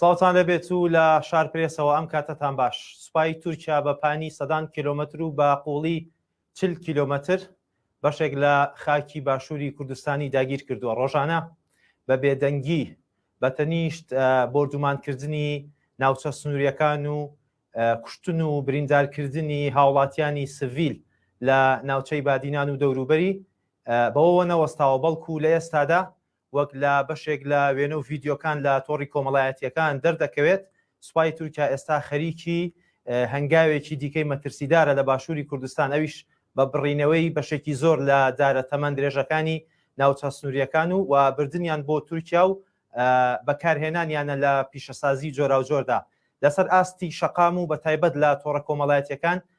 سڵاوتان لەبێت و لە شار پرێسەوە ئەم کاتەتان باش سوپای تورکیا بە پانی سەدان کیلومتر و بە قوڵی چل کیلۆمەتر بەشێک لە خاکی باشووری کوردستانی داگیرکردووە، ڕۆژانە بە بێدەنگی بە تەنیشت بۆردومانکردنی ناوچە سنوورییەکان و کوشتن و بریندارکردنی هاوڵاتیانی سڤیل لە ناوچەی بادینان و دەوروبەری بەوەوە نەوەستاوە، بەڵکو لە ئێستادا وەک لە بەشێک لە وێنە و ڤیدیۆکان لە تۆڕی کۆمەڵایەتییەکان دەردەکەوێت، سوپای تورکیا ئێستا خەریکی هەنگاوێکی دیکەی مەترسیدارە لە باشووری کوردستان، ئەویش بە بڕینەوەی بەشێکی زۆر لە دارە تەمەن درێژەکانی ناوچە سنوورییەکان و بردنیان بۆ تورکیا و بەکارهێنانیانە لە پیشەسازی جۆراوجۆردا لەسەر ئاستی شەقام و بەتایبەت لە تۆڕە کۆمەڵایەتییەکان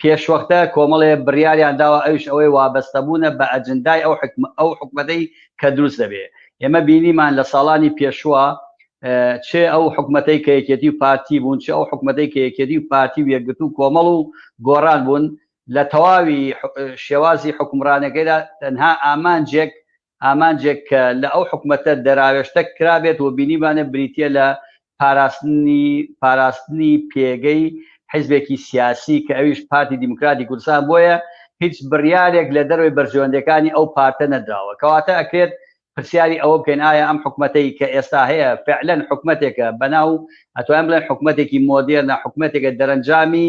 پێشوەختە کۆمەڵێ بڕیاریان داوە ئەویش ئەوەی وابەستەبوونە بە ئەجندای ئەو حکمە ئەو حکومەتەی کە دروست دەبێ ئێمە بینیمان لە ساڵانی پێشوە چێ ئەو حکومەتەی کە یەکێتی و پارتی بوون چ ئەو حکومەتەی کە یەکێتی و پارتی و یەکگرت و کۆمەڵ و گۆڕان بوون لە تەواوی شێوازی حکومڕانەکەیدا تەنها ئامانجێک ئامانجێک کە لە ئەو حکومەتە دەراوێشتە کرابێت و بینیبانە بریتیە لە پاراستنی پاراستنی پێگەی حیزبێکی سیاسی کە ئەویش پارتی دیموکراتی کوردستان بۆیە هیچ بڕیارێک لە دەرەوەی بەرژەوەندیەکانی ئەو پارتە نەدراوە کەواتە ئەکرێت پرسیاری ئەوە بکەین ئایا ئەم حکومەتەی کە ئێستا هەیە فعلەن حکومەتێکە بەناو ئەتوانین بڵێن حکومەتێکی مۆدێرنە حکومەتێکە دەرەنجامی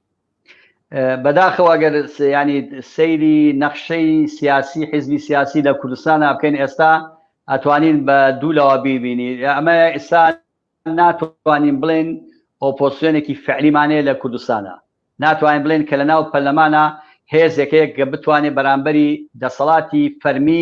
بەداخەوە گەر ینی سەیری نەخشەی سیاسی حیزبی سیاسی لە کوردستان بکەین ئێستا ئەتوانین بە دوو لەوە بیبینی ئەمە ئێستا ناتوانین بڵێن ئۆپۆسیۆنێکی فعلیمانەیە لە کوردستانە ناتوانین بڵێن کە لە ناو پەرلەمانە هێزێکەیەک کە بتوانێت بەرامبەری دەسەڵاتی فەرمی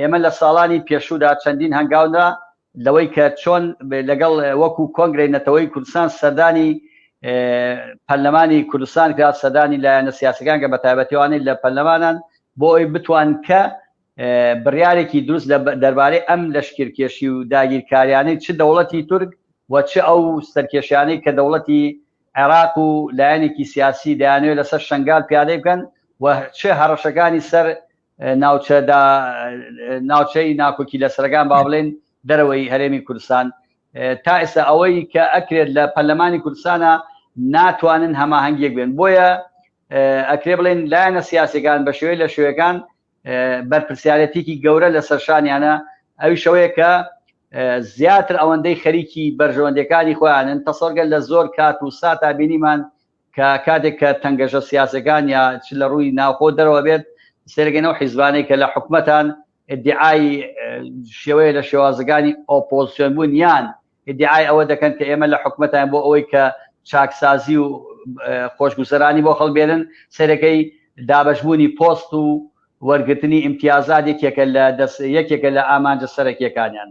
ئێمە لە ساڵانی پێشوودا چەندین هەنگاو نا لەوەی کە چۆن لەگەڵ وەکو کۆنگرەی نەتەوەیی کوردستان سەردانی پەرلەمانی کوردستان کرا سەردانی لایەنە سیاسەکان کە بە تایبەتیوانەی لە پەرلەمانان بۆ ئەوی بتوان کە بڕیارێکی دروست لە دەربارەی ئەم لەشکرکێشی و داگیرکاریانەی چ دەوڵەتی تورک و چ ئەو سەرکێشیانەی کە دەوڵەتی عێراق و لایەنێکی سیاسی دەیانەوێت لەسەر شنگال پیادەی بکەن و چ هەڕەشەکانی سەر ناوچەدا ناوچەی ناکۆکی لەسەرەکان با بڵێن دەرەوەی هەرێمی کوردستان تا ئێستا ئەوەی کە ئەکرێت لە پەرلەمانی کوردستانە ناتوانن هەماهەنگیەک بێن بۆیە ئەکرێ بڵێن لایەنە سیاسەکان بە شێوەی لە شوێەکان بەرپسیارەتێکی گەورە لە سەرشانیانە ئەوی شەوەیە کە زیاتر ئەوەندەی خەریکی بەرژەوەندەکانی خۆیانن تەسەرگەل لە زۆر کات و ساتا بینیمان کە کاتێک کە تەنگەژە سیاسەکان یا چ لە ڕووی ناوخۆو دەرەوە بێت سەیرەکەن ئەو حیزبانەی کە لە حکومەتان ئیدعای شێوەیە لە شێوازەکانی ئۆپۆزسیۆن بوون یان ئیدعای ئەوە دەکەن کە ئێمە لە حکومەتان بۆ ئەوەی کە چاکسازی و خۆشگوزەرانی بۆ خەڵ بێنن سەرەکەی دابشبوونی پۆست و وەرگرتنی ئیمتیازات یەکێکە لە دەست یەکێکە لە ئامانجە سەرەکیەکانیان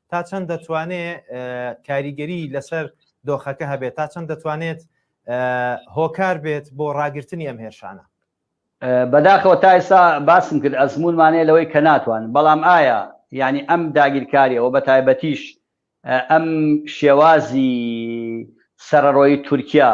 تا چەند دەتوانێت کاریگەری لەسەر دۆخەکە هەبێت تا چەند دەتوانێت هۆکار بێت بۆ ڕاگررتنی ئەم هێرشانە بەداخەوە تا ئێستا باسم کرد ئەزمونمانەیە لەوەی کە ناتوان بەڵام ئایا یعنی ئەم داگیرکاریەوە بە تایبەتیش ئەم شێوازی سەرڕۆی تورکیا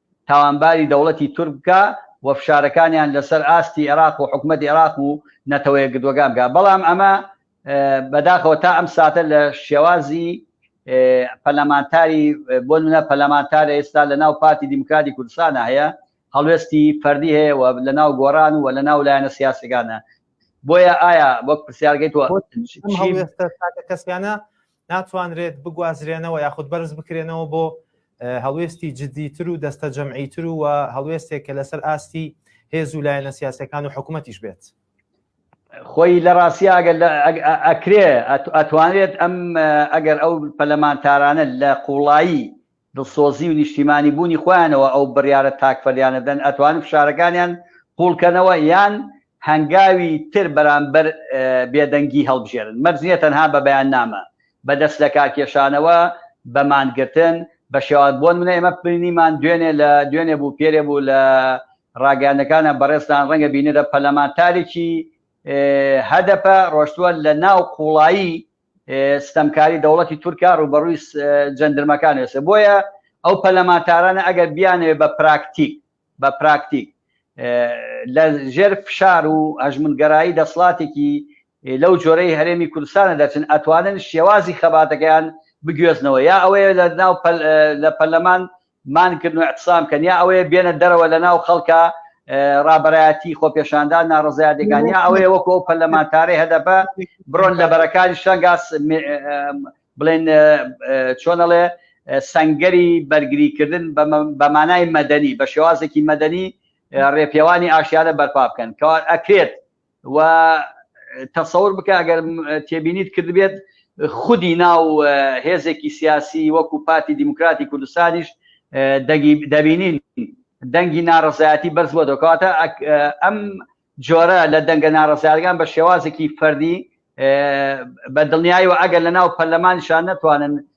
تاوانباری دەوڵەتی تورک بکا و فشارەکانیان لەسەر ئاستی ئێراق و حکومەتی ئێراق و نەتەوەیەکگرتووەکان بکا بەڵام ئەمە بەداخەوە تا ئەم ساتە لە شێوازی پەلەمانتاری بۆ منە پەلەمانتارە ئێستا لە ناو پارتی دیموکراتی کوردستانە هەیە هەڵوێستی فەردی هەیە و لە ناو گۆران و لە ناو لایەنە سیاسەکانە بۆیە ئایا وەک پرسیارگەیت کەسیانە ناتوانرێت بگوازرێنەوە یاخود بەرز بکرێنەوە بۆ هەڵوێستی جددیتر و دەستە جەمعیتر و هەڵوێستێک کە لەسەر ئاستی هێز و لایەنە سیاسەکان و حکوومەتیش بێت. خۆی لە ڕاستیا ئەگەر ئەکرێ ئەتوانێت ئەم ئەگەر ئەو پەلەمانتارانە لە قوڵایی دڵسۆزی و نیشتیمانی بوونی خۆیانەوە ئەو بڕیارە تاکفەلیانە دەن ئەتوانن فشارەکانیان قوڵ کەنەوە یان هەنگاوی تر بەرامبەر بێدەنگی هەڵبژێرن مەرج نیە تەنها بە بەیاننامە بە دەست لەکارکێشانەوە بە مانگرتن بە شێواز بۆ نمونە ئێمە بینیمان دوێنێ لە دوێنێ بوو پێرێ بوو لە ڕاگەیاندەکانە بەڕێزتان ڕەنگە بینرە پەرلەمانتارێکی هەدەپە ڕۆشتووە لە ناو قوڵایی ستەمکاری دەوڵەتی تورکە ڕووبەڕووی جەندرمەکان ئێسێ بۆیە ئەو پەلەمانتارانە ئەگەر بیانەوێ بە پراکتیک بە پراکتیک لە ژێر فشار و هەژمونگەرایی دەسڵاتێکی لەو جۆرەی هەرێمی کوردستانە دەچن ئەتوانن شێوازی خەباتەکەیان بگوێزنەوە یا ئەوەیە لە ناو لە پەرلەمان مان کردن و اعتصام کەن یا ئەوەیە بێنە دەرەوە لە ناو خەڵکا ڕابەرایەتی خۆپێشاندان ناڕەزایەتەکان یا ئەوەیە وەکو ئەو پەرلەمانتارەی هەدەپە بڕۆن لە بەرەکانی شەنگاس بڵێن چۆنەڵێ سنگەری بەرگریکردن بە مانای مەدەنی بە شێوازێکی مەدەنی ڕێپێوانی ئاشیانە بەرپا بکەن کەوا ئەکرێت و تەسەور بکە ئەگەر تێبینیت کردبێت خودی ناو هێزێکی سیاسی وەکو پارتی دیموکراتی کوردستانیش دەبینین دەنگی ناڕزایەتی بەرز بۆ دەکاتە ئەم جۆرە لە دەنگە ناڕزارگان بە شێوازێکی فەردی بە دڵنیایەوە ئەگەر لە ناو پەرلەمانشان نەتوانن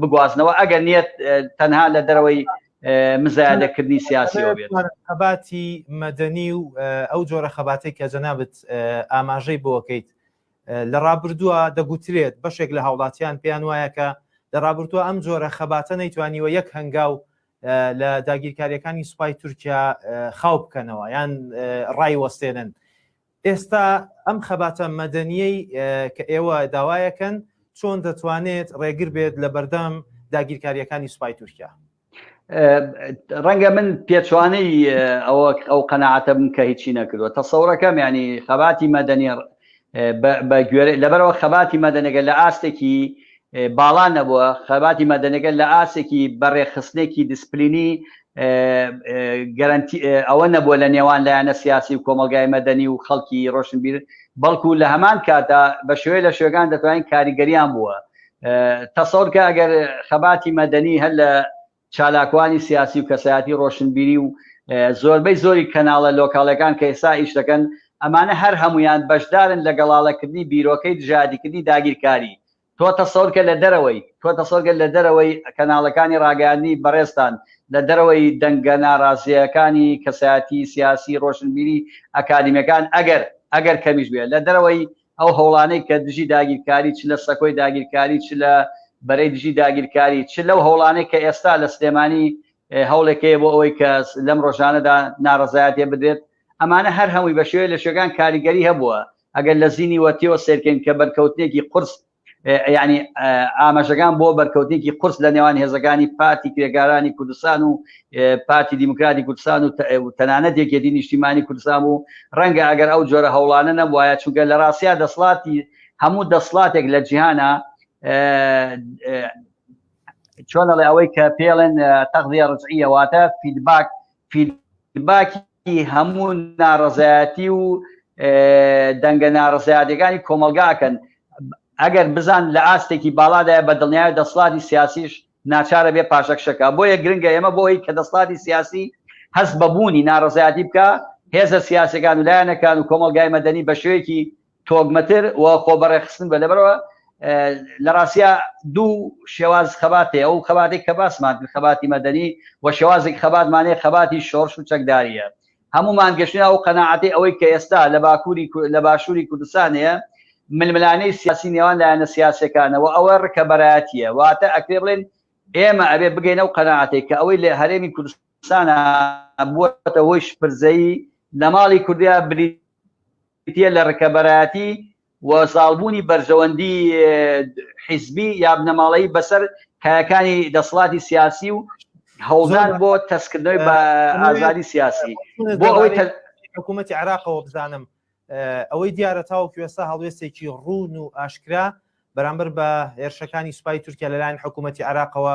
بگوازنەوە ئەگەر نیەت تەنها لە دەرەوەی مزایادەکردنی سیاسیەوە بێت خەباتی مەدەنی و ئەو جۆرە خەباتەی کە جەنابەت ئاماژەی بۆکەیت لە ڕابردووە دەگوترێت بەشێک لە هاوڵاتیان پێیان وایە کە لە ڕابرتووە ئەم جۆرە خەباتە نەیتوانیوە یەک هەنگاو لە داگیرکاریەکانی سوپای تورکیا خاو بکەنەوە یان ڕای وەستێنن ئێستا ئەم خەباتە مەدەنیەی کە ئێوە داوایەکەن چۆن دەتوانێت ڕێگر بێت لە بەردەم داگیرکاریەکانی سوپای تورکیا؟ ڕەنگە من پێچوانەی ئەوە ئەو قەنەعاتە بم کە هیچی نەکردوە تەسەورەکەم ینی خەباتی مەدەنی بە گوێرە لەبەرەوە خەباتی مەدەنەگە لە ئاستێکی باڵا نەبووە، خەباتی مەدەنیەکە لە ئاستێکی بە رێکخستنێکی دیسپلینی گەرەنتی ئەوە نەبووە لە نێوان لایەنە سیاسی و کۆمەڵگای مەدەنی و خەڵکی رۆشنبیر بەڵکو لە هەمان کاتدا بە شێوەی لە شێوەکان دەتوانین کاریگەریان بووە تەسەور کە ئەگەر خەباتی مەدەنی هەر لە چالاکوانی سیاسی و کەسایەتی ڕۆشنبیری و زۆربەی زۆری کەناڵە لۆکاڵەکان کە ئێستا ئیش دەکەن، ئەمانە هەر هەموویان بەشدارن لە گەڵاڵەکردنی بیرۆکەی دژایەتیکردنی داگیرکاری. تۆ تەسەور کە لە دەرەوەی، تۆ تەسەور کە لە دەرەوەی کەناڵەکانی ڕاگەیاندنی بەڕێزتان، لە دەرەوەی دەنگە ناڕازییەکانی کەسایەتی سیاسی، ڕۆشنبیری، ئەکادیمیەکان، ئەگەر، ئەگەر کەمیش بێ، لە دەرەوەی ئەو هەوڵانەی کە دژی داگیرکاری چ لە سەکۆی داگیرکاری چ لە بەرەی دژی داگیرکاری چ لەو هەوڵانەی کە ئێستا لە سلێمانی هەوڵێک هەیە بۆ ئەوەی کە لەم ڕۆژانەدا ناڕەزایەتێ بدرێت ئەمانە هەر هەمووی بە شێوەیە لە شوێکان کاریگەری هەبووە ئەگەر لە زینی وەتیەوە سێرکەین کە بەرکەوتنێکی قرس یانی ئاماژەکان بۆ بەرکەوتێکی قورس لە نێوان هێزەکانی پارتی کرێکارانی کوردستان و پارتی دیموکراتی کوردستان و تەنانەت یەکێتی نیشتیمانی کوردستان و ڕەنگە ئەگەر ئەو جۆرە هەوڵانە نەبواە چونکە لە ڕاستیا دەسڵاتی هەموو دەسڵاتێک لە جیهانە چۆنەڵێ ئەوەی کە پێڵێن تەغزیە ڕزعیەواتە فیدباک فیدباکی ئیفادەی هەموو ناڕەزایەتی و دەنگە ناڕزایاتەکانی کۆمەلگاکەن ئەگەر بزان لە ئاستێکی باڵادای بە دڵنیای دەسڵاتی سیاسیش ناچارە بێ پاشەکشەکە بۆیە گرنگە ئێمە بۆی کە دەسڵاتی سیاسی هەست بەبوونی ناڕزایاتی بکە هێزە سیاسەکان و لایەنەکان و کۆمەلگای مەدەنی بە شوێکی تۆگمەتر و خۆ بە ڕێکخستن بە لەبەرەوە لە ڕاستیا دوو شێواز خەبات هەیە ئەو خەباتێک کە باسمان کرد خەباتی مەدەنی و شێوازێک خەباتمان هەیە خەباتی شۆڕش و چەکدارییە هەموومان گەشتنا ئەو قەناعەتی ئەوەی کە ئێستا لە باکووری لە باشووری کوردستان هەیە ململانەی سیاسی نێوان لایەنە سیاسەکانە و ئەوە ڕکەبەرایەتیە واتە ئەکرێ بڵێن ئێمە ئەبێ بگەینە و قەنەعاتێک کە ئەوەی لە هەرێمی کوردستانە بووەتە هۆی شپرزەی لە ماڵی کوردیا بری تیە لە رکەبەرایەتی و زاڵبوونی بەرژەوەندی حیزبی یا بنەماڵەیی بەسەر کایەکانی دەسڵاتی سیاسی و هەوڵدان بۆ تەسکردنەوەی بە ئازادی سیاسی بۆ ئەوەی حکوومەتی عراقەوە بزانم ئەوەی دیارە تاوەکو ئێستا هەڵوێستێکی ڕوون و ئاشکرا بەرامبەر بە هێرشەکانی سوپای تورکیا لەلایەن حکوومەتتی عراقەوە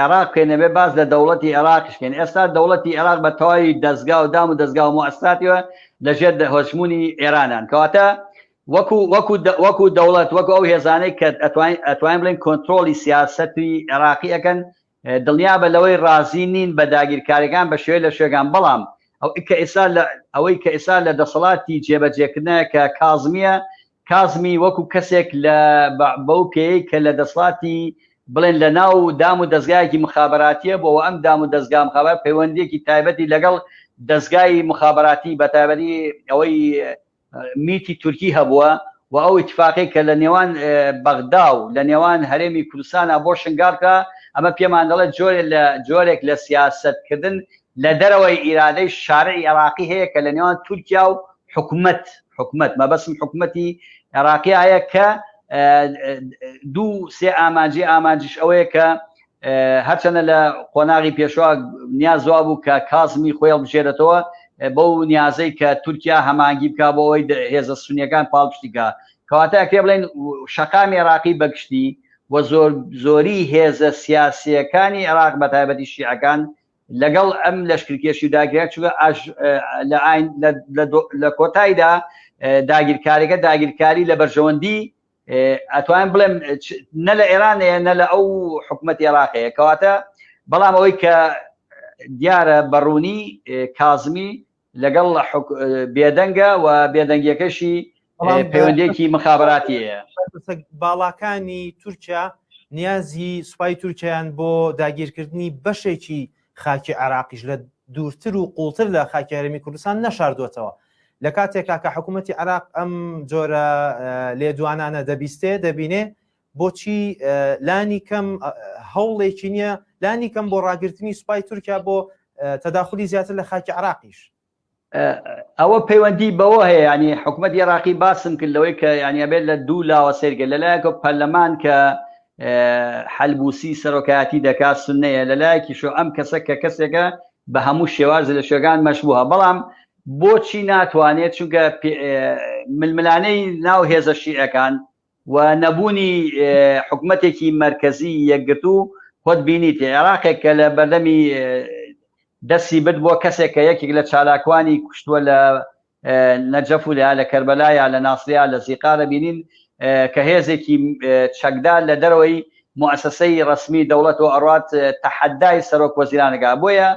عێراق بکەین ئەبێ باس لە دەوڵەتی عێراقیش بکەین ئێستا دەوڵەتی عێراق بە تەواوی دەزگا و دام و دەزگا و موئەسساتیوە لەژێر دە- هەژموونی ئێرانان کەواتە وەکو وەکو دە- وەکو دەوڵەت وەکو ئەو هێزانەی کە ئەتوانین ئەتوانین بڵێن کۆنترۆڵی سیاسەتی عێراقی ئەکەن اه، دڵنیا بە لەوەی رازی نین بە داگیرکاریەکان بە شێوەی لە شوێگان بەڵام ئەو کە ئێستا لە ئەوەی کە ئێستا لە دەسەڵاتی جێبەجێکردنە کە کازمیە کازمی وەکو کەسێک لە بە بەو پێیەی کە لە دەسڵاتی بڵێن لە ناو دام و دەزگایەکی مخابەراتیە بۆ وە ئەم دام و دەزگا مخابات پەیوەندیەکی تایبەتی لەگەڵ دەزگای مخابەراتی بە تایبەتی ئەوەی میتی تورکی هەبووە و ئەو ئیتفاقی کە لە نێوان بەغدا و لە نێوان هەرێمی کوردستانە بۆ شنگارکرا ئەمە پێمان دەڵێت جۆرێک لە جۆرێک لە سیاسەت کردن لە دەرەوەی ئیرادەی شارعی عێراقی هەیە کە لە نێوان تورکیا و حکومەت، حکومەت، مەبەستم حکومەتی عێراقی ئایە کە دوو سێ ئامانجی ئامانجیش ئەوەیە کە هەرچەنە لە قۆناغی پێشوا نیازوا بوو کە کازمی خۆی هەڵبژێرێتەوە بەو نیازەی کە تورکیا هەمانگی بکا بۆ ئەوەی هێزە سونیەکان پاڵپشتیکە کەواتە ئەکرێ بڵێن شەقامی عێراقی بەگشتی و زۆر زۆری هێزە سیاسیەکانی عێراق بە تایبەتی شیعەکان لەگەڵ ئەم لەشکرکێشی و داگیرکاری چونکە ئاش لە ئاین لە کۆتاییدا داگیرکاریەکە داگیرکاری لە بەرژەوەندی ئەتوانم بڵێم نە لە ئێرانەیە نە لە ئەو حکوومەت عێراقەیە کەواتە بەڵام ئەوەی کە دیارە بەڕوونی کازمی لەگەڵ بێدەنگە و بێدەنگیەکەشی پەیوەندێکی مخاباتیەیە باڵاکانی تورکیا نیازی سوپای تورکیان بۆ داگیرکردنی بەشێکی خاکی عراقیش لە دوورتر و قوڵتر لە خاکیارمی کوردستان نەشاردوەتەوە لە کاتێکا کە حکوومەتتی عراق ئەم جۆرە لێدوانانە دەبیستێ دەبینێ بۆچی لانی کەم هەوڵێکی نییە لانی کەم بۆ ڕاگررتنی سوپای تورکیا بۆ تەداخلی زیاتر لە خاکی عراقیش ئەوە پەیوەندی بەوە هەیە ینی حکوومەت عێراقی باسم کرد لەوەی کە یانیابێت لە دوو لاوە سێرگە لەلایەکە پەرلەمان کە حلبوسی سەرۆکایەتی دەکات سنەیە لەلایەکی شو ئەم کەسە کە کەسێکە بە هەموو شێواز لە شوێگان مەشبووە بەڵام بۆچی ناتوانێت چونکە ململانەی ناو هێزە شیعەکان و نەبوونی حکومەتێکی مەرکەزی یەکگرتوو خۆت بینیت عێراقێک کە لە بەردەمی دەستی برد بۆ کەسێک کە یەکێک لە چالاکوانی کوشتووە لە نەجەف و لە کەربەلا یا لە ناسر یا لە زیقار دەبینین کە هێزێکی چەکدار لە دەرەوەی موسسەی ڕەسمی دەوڵەت و ئەڕات تەحەدای سەرۆک وەزیرانەکە بۆیە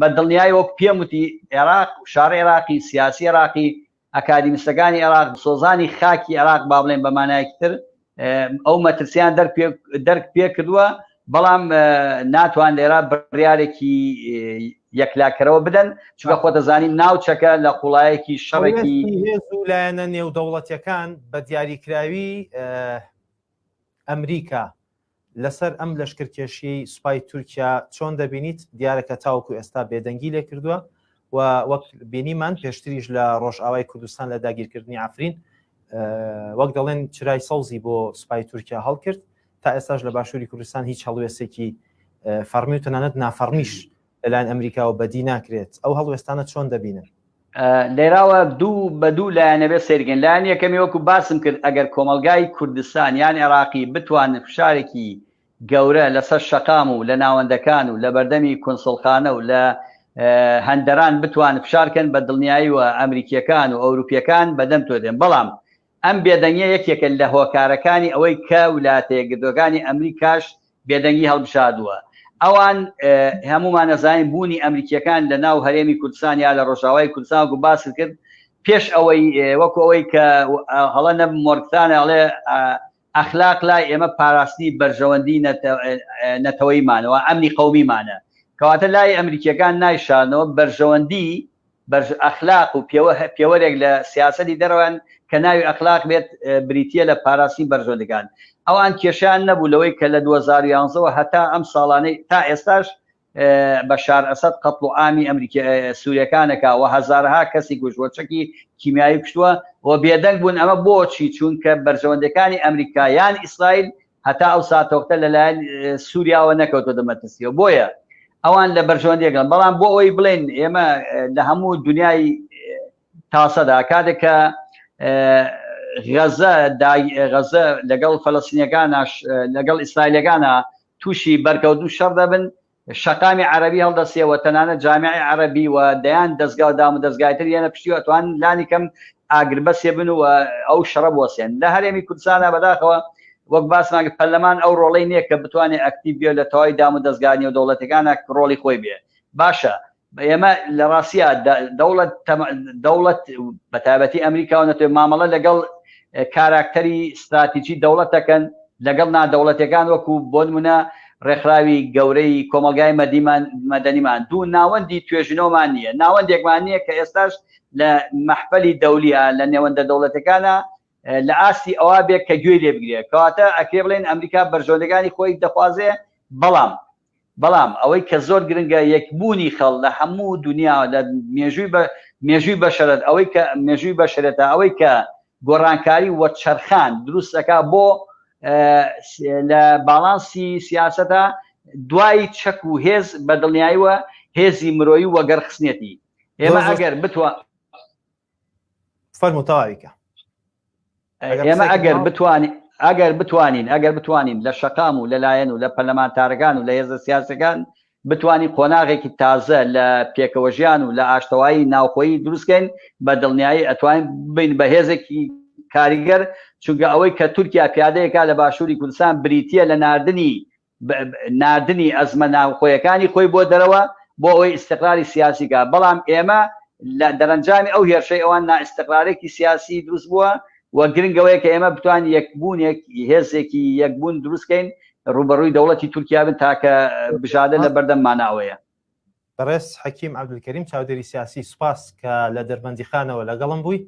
بە دڵنیای وەک پێم وتی عێراق شار عێراقی سیاسی عێراقی ئەکادیمستەکانی عێراق، سۆزانی خاکی عێراق با بڵێین بە مانایەکی تر ئەو مەترسیان دەرک پێکردووە، بەڵام ناتوان لێرە بڕیارێکی یەکلاکەرەوە بدەن، چونکە خۆتەزانین ناوچەکە لە قوڵایەکی شەڕێکی هێز و لایەنە نێودەوڵەتیەکان بە دیاریکراوی ئەمریکا، لەسەر ئەم لەشکرکێشیەی سوپای تورکیا چۆن دەبینیت دیارە کە تاوەکو ئێستا بێدەنگی لێ کردووە و وەک بینیمان پێشتریش لە ڕۆژئاوای کوردستان لە داگیرکردنی ئەفرین وەک دەڵێن چرای سەوزی بۆ سوپای تورکیا هەڵکرد تا ئێستاش لە باشووری کوردستان هیچ هەڵوێستێکی فەرمی و تەنانەت نافەرمیش لەلایەن ئەمریکاوە بەدی ناکرێت ئەو هەڵوێستانە چۆن دەبینن لێراوە دوو بە دوو لایەنەبێ سێرگەن لایەن یەکەمی وەکو باسم کرد ئەگەر کۆمەلگای کوردستان یان عێراقی بتوانن فشارێکی گەورە لەسەر شەقام و لە ناوەندەکان و لە بەردەمی کونسڵخانە و لە هەندەران بتوان فشارکەن بە دڵنیایی و ئەمریکیەکان و ئەوروپیەکان بەدەم تۆ دێن بەڵام ئەم بێدەنگیە یەکێکە لە هۆکارەکانی ئەوەی کە ولاتە یەکگرتوەکانی ئەمریکاش بێدەنگی هەڵبژاردوە. ئەوان هەمومان ئەزانین بونی ئەمریکیەکان لە ناو هەرێمی کوردستان یا لە رۆژئاوای کوردستان وەکو باست کرد پێش ئەوەی وەکو ئەوەی کە هەڵە نەبم مۆرگتانە ئەڵێ ئەخلاق لای ئێمە پاراستنی بەرژەوەندی نەتەوەیمانە و ئەمنی قەومیمانە، کەواتە لای ئەمریکییەکان نایشارنەوە بەرژەوەندی، بەرژە، ئەخلاق و پێوە، پێوەرێک لە سیاسەتی دەرەوەیان کە ناوی ئەخلاق بێت بریتییە لە پاراستنی بەرژەوەندەکان. ئەوان کێشەیان نەبوو لەوەی کە لە دوو هەزار و یازدە وە هەتا ئەم ساڵانەی، تا ئێستاش بەشار ئەسەد قەتڵ و ئامی ئەمریکی سوریەکانەکە و هەزارها کەسی کوشت و چەکی کیمیایی کوشتوە و بێدەنگ بوون ئەمە بۆچی چونکە بەرژەوەندەکانی ئەمریکا یان ئیسرائیل هەتا ئەو ساتۆختە لەلایەن سوریاوە نەکەوتۆ دەمەترسیەوە بۆیە ئەوان لە بەرژەوەندیەکەن بەڵام بۆ ئەوی بڵێن ئێمە لە هەموو دنیای تاسەدا کاتێکە غەزە غەزە لەگەڵ فەلەسینەکانش لەگەڵ ئیسرائیلەکانە تووشی بەرکەوت و شەڕ دەبن، شەقامی عەرەبی هەڵدەسێ و تەنانەت جامعی عەرەبی و دەیان دەزگا و دامودەزگای تر یەنە پشتی و ئەتوانن لانی کەم ئاگربەسێ بن و ئەو شەڕە بوەسێن لە هەرێمی کوردستانا بەداخەوە وەک باسمان کرد پەرلەمان ئەو ڕۆڵەی نیە کە بتوانێ ئەکتیڤ بێ و لە تەواوی دامودەزگا نێودەوڵەتیەکانا ڕۆڵی خۆی بێ باشە ئێمە لە ڕاستیا دەوڵەت دەوڵەت بە تایبەتی ئەمریکاوە نەتوێت مامەڵە لەگەڵ کاراکتەری ستراتیجی دەوڵەتەکەن لەگەڵ نادەوڵەتەکان وەکو بۆ نمونە ڕێکخراوی گەورەی کۆمەلگای مەدیمان مەدەنیمان دوو ناوەندی توێژینەوەمان نییە ناوەندێکمان نییە کە ئێستاش لە مەحفەلی دەولیە لە نێوەندە دەوڵەتەکانە لە ئاستی ئەوە بێت کە گوێی لێ بگرێت کەواتە ئەکرێ بڵێن ئەمریکا بەرژەوەندەکانی خۆی دەخوازێ بەڵام بەڵام ئەوەی کە زۆر گرنگە یەک بوونی خەڵ لە هەموو دونیا و لە مێژووی بە مێژووی بەشەرت ئەوەی کە مێژووی بەشەرێتە ئەوەی کە گۆڕانکاری وەرچەرخان دروست ئەکا بۆ لە باڵانسی سیاسەتە دوای چەک و هێز بە دڵنیاییوە هێزی مرۆیی وەگەر خستنێتی ئێمە ئەگەر بتوە فەرموتەواویکە ئێمە ئەگەر بتوانین ئەگەر بتوانین ئەگەر بتوانین لە شەقام و لە لایەن و لە پەرلەمانتارەکان و لە هێزە سیاسەکان بتوانین قۆناغێکی تازە لە پێکەوە ژیان و لە ئاشتەوایی ناوخۆیی دروستکەین بە دڵنیایی ئەتوانین بین بە هێزێکی کاریگەر چونکە ئەوەی کە تورکیا پیادەیەکە لە باشووری کوردستان بریتە لە ناردنی ناردنی ئەزمە ناوخۆیەکانی خۆی بۆ دەرەوە بۆ ئەوەی ئیستقراری سیاسی بکات، بەڵام ئێمە لە دەرەنجامی ئەو هێرشەی ئەوان نائیستقرارێکی سیاسی دروست بووە و گرنگ ئەوەیە کە ئێمە بتوانین یەکبوونێک هێزێکی یەکبوون دروست کەین ڕووبەڕووی دەوڵەتی تورکیا بن تاکە بژادە لە بەردەممانە ئەوەیە. بەڕێز حەکیم عەبدولکەریم چاودێری سیاسی سوپاس کە لە دەربەندیخانەوە لەگەڵم بووی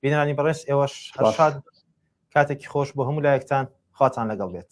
بینرانی بەڕێز ئێوەش هەرشاد کاتێکی خۆش بۆ هەموو لایەکتان خواتان لەگەڵ بێت.